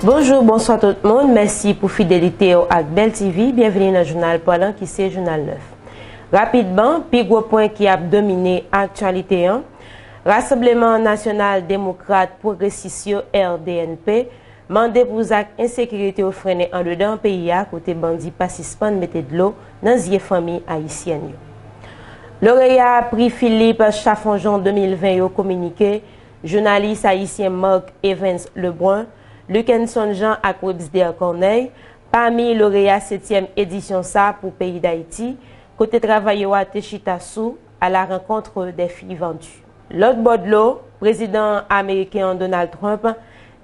Bonjou, bonswa tout moun, mèsi pou fidelite w ak Bèl TV, byenvini nan jounal Palan ki se Jounal 9. Rapidman, pi gwo pwen ki ap domine aktyalite an. Rasanbleman Nasyonal Demokrat Pwogresis yo, RDNP, mande pou zak ensekirite yo frennen andedan peyi a kote bandi pa sispann mete dlo nan zye fanmi ayisyèn yo. Loreya Pri Philippe Chaffonjon 2020 yo kominike jounalis ayisyen Marc Evens Lebrun, Luckenson Jean ak Websder Corneille pami loreya setyèm edisyon sa pou peyi Dayiti kote travay yo a te chita sou à la rencontre des filles vendues. Lòt bò dlo, prezidan ameriken an Donald Trump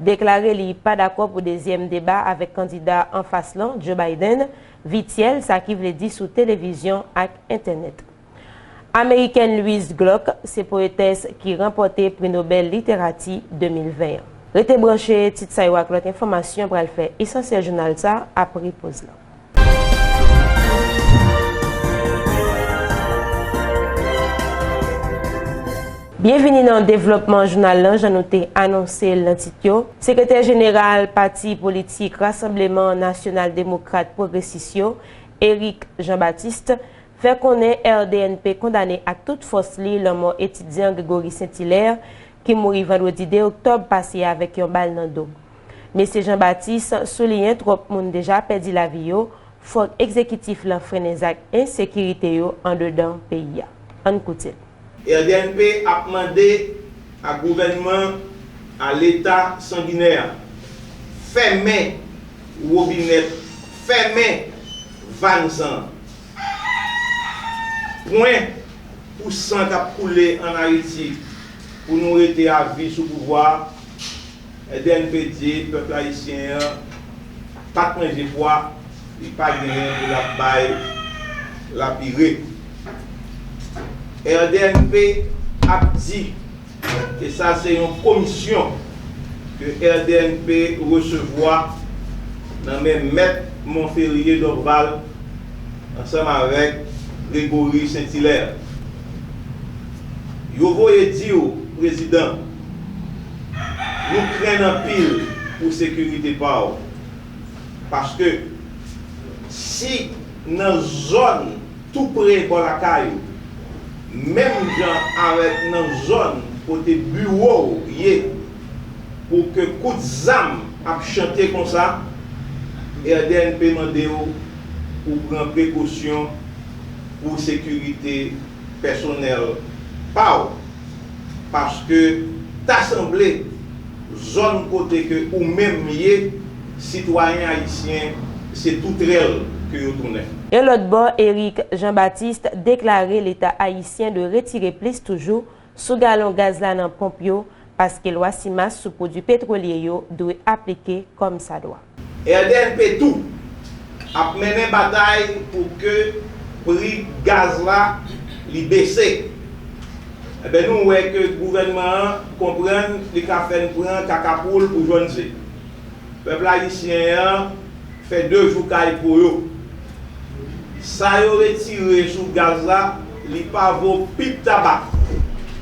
deklare li pa dakò pou dezyèm deba avèk kandida anfas lan, Joe Biden, vityèl, sa ki vle di sou televizyon ak entènèt. Amerikèn Louise Gluck se poetès ki ranpòte Pri Nobèl Literati 2020 an. Rete branche, tit sa yo ak lòt enfòmasyon pral fè esansyèl jounal sa apre poz lan. Byenvini nan devlòpman jounal lan jan nou te anonse l nan tit yo. Sekretè jeneral pati politik Rasanbleman Nasyonal Demokrat Pwogresis yo, Eric Jean Baptiste, fè konnen RDNP kondane ak tout fòs li lanmò etidyan Grégory Saint-Hilaire ki mouri vandredi 2 oktòb pase a avèk yon bal nan do. Mesye Jean Baptiste souliyen twòp moun deja pèdi lavi yo, fòk egzekitif lan frennen zak ensekirite yo andedan peyi a. Ann koute l. Rdmp ap mande a gouvènman a leta sanginè a, fèmen wobinèt, fèmen vàn san an. Pwen pou san k ap koule an Ayiti pou nou rete a vi sou pouvwa a. Edène Pédié pèp ayisyen an pat manje pwa li pa genyen pou lap bay lapire rdnp ap di ke sa se yon komisyon ke rdnp resevwa nan men mèt Monferrier Dorval ansanm avèk Grégory Saint Hilaire yo voye diw prezidan Nou krenn anpil pou sekirite pa w, paske si nan zòn tou pre bò lakay ou, menm jan avèk nan zòn kote biwo w ye, pou ke kout zam ap chante konsa, RDNP mande w pou pran prekosyon pou sekirite. pèsonèl pa w paske ta sanble zòn kote ke ou menm ye sitwayen ayisyen se toutrèl ke yo tounen. Yon lòt bò Eric Jean Baptiste deklare leta ayisyen dwe retire plis toujou sou galon gaz la nan ponp yo paske lwa CIMAS sou pwodui petwolye yo dwe aplike kòm sa dwa. RDNP tou, ap mennen batay pou ke pri gaz la li bese. Enben nou wè ke gouvènman an konprann li ka fè n pran kaka poul pou jwenn ze. Pèp ayisyen an fè 2 jou kay po yo. Sa yo retire sou gaz la li pa vo pip tabak.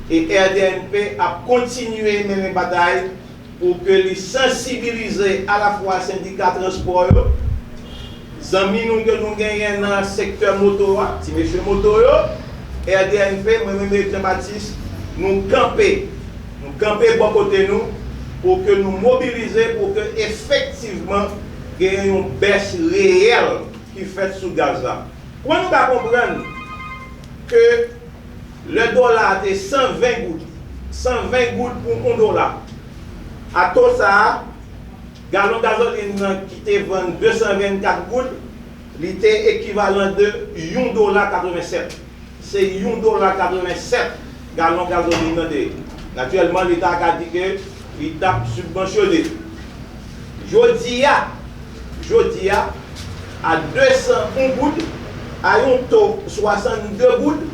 E RDNP ap kontinye mennen batay pou ke li sansibilize alafwa sendika transpò yo, zanmi nou ke nou genyen nan sektè moto a, ti mesye moto yo, RDNP, mwen menm e Jean Baptiste nou kanpe. Nou kanpe bò kote nou pou ke nou mobilize pou ke efektivman genyen yon bès reyèl ki fèt sou gaz la. Kouman nou ka konprann ke lè dola a te 120 goud, 120 goud pou yon dola, a to sa a, galon gazolin nan ki te vann 224 goud, li te ekivalan de yon dola 87. Se yon dola 87 galon gazolin nan te ye. Natirèlman, Leta a ka di ke li t ap sibvansyone. Jodi a, jodi a, a 201 goud, a yon to 62 goud,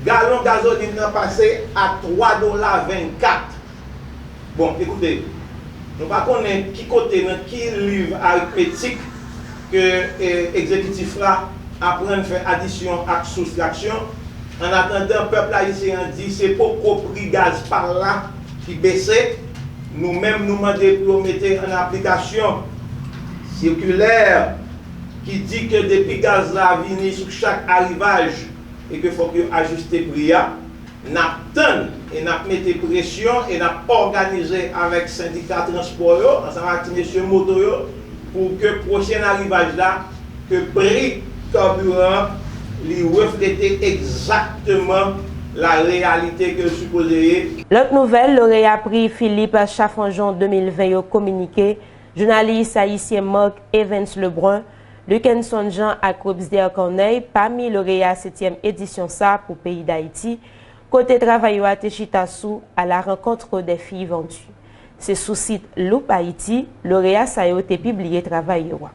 galon gazolin nan pase a 3 dola 24. Bon, ekoute, nou pa konnen ki kote nan ki liv arikmetik ke ekzekitif la aprann fè adisyon ak soustraksyon. An atandan, pèp ayisyen an di se poko pri gaz pa l la ki bese. Nou menm nou mande pou yo mete an aplikasyon sikilè ki di ke depi gaz la vini sou chak arivaj e ke fòk yo ajiste pri a. N ap tann e n ap mete presyon e n ap òganize avèk sendika transpò yo ansanm ak ti mesye moto yo pou ke pwochen arivaj la ke pri kaburan an li reflete egzakteman la reyalite ke l sipoze ye. Lòt nouvèl, loreya pri Philippe Chaffonjon 2020 yo kominike, jounalis ayisyen Marc Evans Lebrun, Luckenson Jean ak Robsder Corneille pami loreya setyèm edisyon sa pou peyi Dayiti, kote travay yo a te chita sou A la rencontre des filles vendues. Se sou sit Loop Haïti, loreya sa yo te pibliye travay yo a.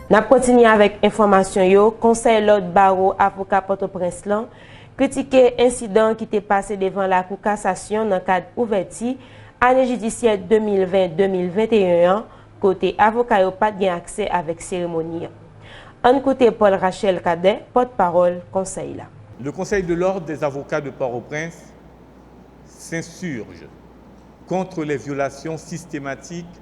N ap kontinye avèk enfòmasyon yo, Konsèy Lòd Bawo Avoka Pòtoprens lan, kritike ensidan ki te pase devan lakou kasasyon nan kad ouvèti ane jidisyè 2020-2021 an kote avoka yo pat gen aksè avèk seremoni an. Ann koute Paul Rachel Cadet, pòt pawòl konsèy la. Le Conseil de l'Ordre des Avocats de Port-au-Prince s'insurge contre les violations systématiques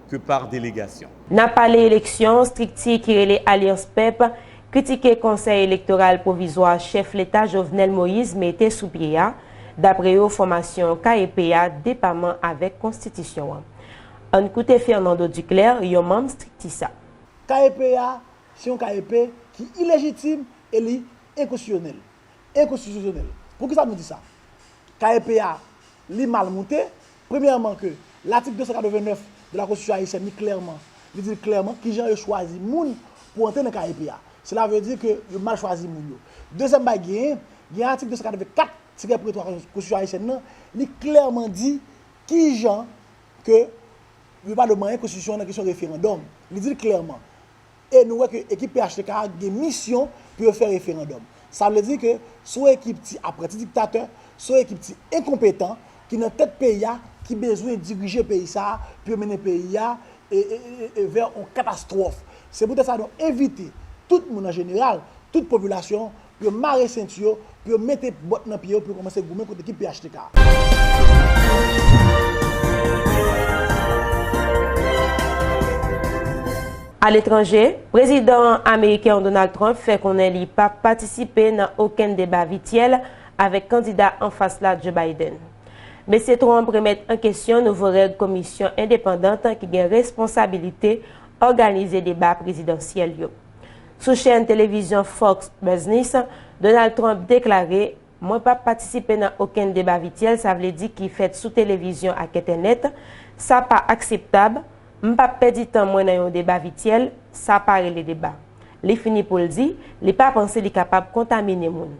ke par delegasyon. Nan pale eleksyon, strikti ki rele Alyans Pèp kritike Konsèy Elektoral Pwovizwa chèf leta Jovenel Moïse mete sou pye a, dapre yo fòmasyon KEP a depaman avèk konstitisyon an. Ann koute Fernando Duclaire, yon manm strikti sa. KEP a se yon KEP ki ilejitim e li enkonstitisyonèl. Enkonstitisyonèl. Poukisa nou di sa? KEP a li mal moute, Premyèman ke latik 289 de la konstitisyon ayisyèn li klèman, li di l klèman kijan yo chwazi moun pou antre nan KEP a. Sela vle di ke yo mal chwazi moun yo. Dezyèm bagay genyen, gen atik 284 tirè pre 3 konstitisyon ayisyèn nan, li klèman di kijan ke yo pa dwe manyen konstitisyon an nan kesyon referandòm. Li di l klèman. E nou wè ke ekip phtk a gen misyon pou yo fè referandòm. Sa vle di ke son ekip ti apranti diktatè, son ekip ti enkonpetan ki nan tèt peyi a ki bezwen dirije peyi sa a pou yo mennen peyi a vè yon katastwòf. Se poutèt sa nou envite tout moun an jeneral, tout popilasyon Pou yo mare senti yo, pou yo mete bòt nan pye yo pou yo kòmanse goumen kont ekip phtk a. Aletranje, Prezidan ameriken an Donald Trump fè konnen li pa p patisipe nan okenn deba vityèl avèk kandida anfas la Joe Biden. Mesye Trump remèt an kesyon nouvo règ komisyon endepandant ki gen responsabilite òganize deba prezidansyèl yo. Sou chèn televizyon Fox Business, Donald Trump deklare, Mwen pap patisipe nan okenn deba vityèl, sa vle di ki fèt sou televizyon ak entènèt. Sa pa akseptab. M pap pèdi tan mwen nan yon deba vityèl. Sa pa rele deba. Li fini pou l di, li pa panse li kapab kontamine moun.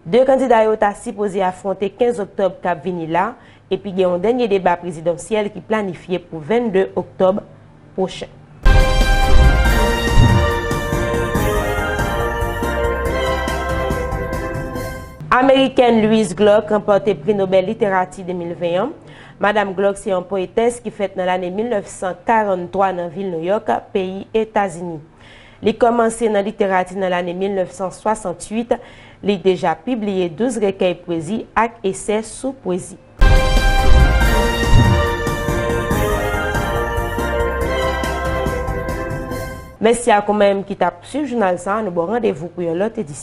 2 kandida yo ta sipoze afwonte 15 oktòb k ap vini la epi gen yon dènye deba prezidansyèl ki planifye pou 22 oktòb pwochen. Amerikèn Louise Gluck ranpòte Pri Nobèl Literati 2020 an. Madam Gluck se yon poetès ki fèt nan lane 1943 nan vil Nouyòk, peyi Etazini. Li kòmanse nan literati nan lane 1968, li deja pibliye 12 rekèy pwezi ak esè sou pwezi. Mèsi ak ou menm ki t ap swiv jounal sa a, nou ba w randevou pou yon lòt edisyon.